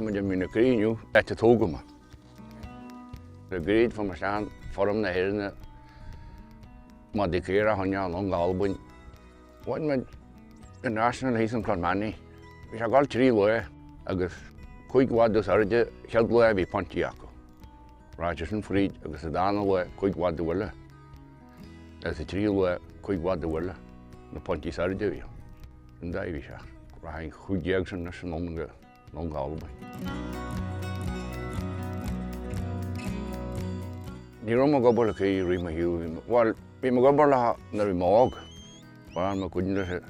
Tá muid ag míniú caoi inniu áit a tógadh mé. Le gairid fá mo chlann, forum na hÉireanna, Maigh Dé Cléire, Áth Inneall, Long Albain. Bhain mé an National thíos in Clár Meannaí. Bhí sé gal trí lae agus cúig lá dos airde, cheud lae bhí pointí acu. Roger Finn fríd agus sa dara luaith cuig bhfad de bhuille agus sa tríú luaith cuig bhfad de bhuille na pointí sara deireadh an dá bhí sé rath an chúig dhéag sin leis an longa longa Albain. Ní raibh mo gobal aici roimh mo shiúl. Bhuel, bhí mo gobal acu nuair bhí mé óg. Bhain mo chuid nithe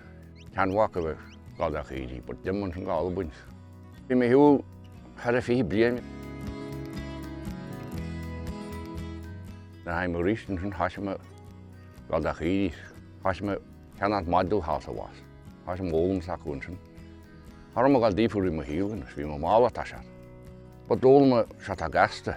ceannbhaca le Gol Each Éirí but d'imigh an Gol againn. Bhí mé shiúil thar a fiche bliain. Nuair a tháinig mé arís ansin thoisigh mé Gol Each Éirí. Thoisigh mé ceann as Module House a bhás. Thoisigh mo fhoghlaim is acu ansin. Thar am a ghail d'fhiafraigh mé mo shaol anois, bhí mé mall atá sé. Ba d'fhoghlaim mé seo atá gasta.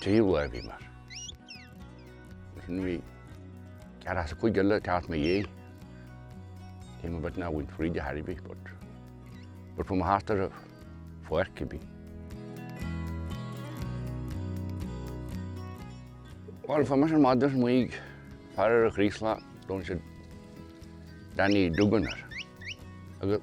Trí lá a bhí mar sin bhí ceathrar as a cuid eile teacht na dhiaidh. Téim i bhfad ná bhaint fríd a thairbhí but but from a heart ar a pháirc a bhí. Bhuel fá mar sin maidir is maígh fear ar a chraoslach dúinn siad Danny Duggan air agus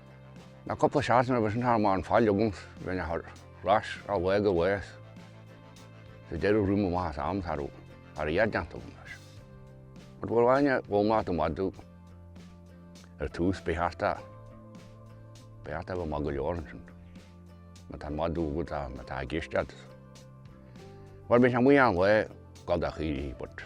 Na cúpla seachtain a bhí sin thar an fáil agam rinne thar ais á bhfuaigh a bhás sa deireadh rua mo mhaitheas am thar a fhad déanta agam leis. But a fháil aithne mhaith ar do mhadadh ar tús a bheith thart a bheith thart taobh amuigh go leor ansin má tá an madadh agat ann atá ag éisteacht leat. Bhuel bhí sé amuigh inniu, ag gabháil do chaoirigh but.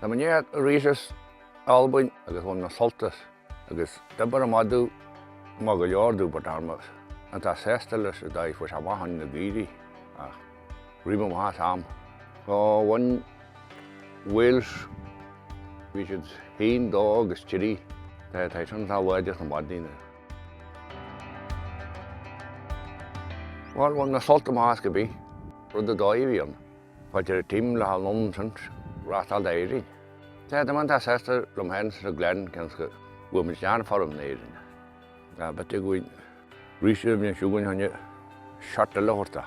Na Mainéad arís is Albain agus bhun na Sultais agus d'obair a maidiú maith go leor dúbairt Armas an tá sásta leis a dtaobh fuair sé amach ann na gcaoirigh ach roimh an mhaith am go bhun Wales bhí siad féin dó agus Chiddy, Tá sé taighde an tá láidir sna maidine. Bhuel, bhain na sult amach go bith, rud a d'fhaomhaíonn paidir tim le haghaidh nonsens reáchtáil d'Éirinn. Sea, d'imigh an dá sester liom féin sa Glen gan go bhfuair muid gan foirm in Éirinn. Tá bit againn arís ar an bhliain siúd againn cheana, seart eile a thabhairt dá.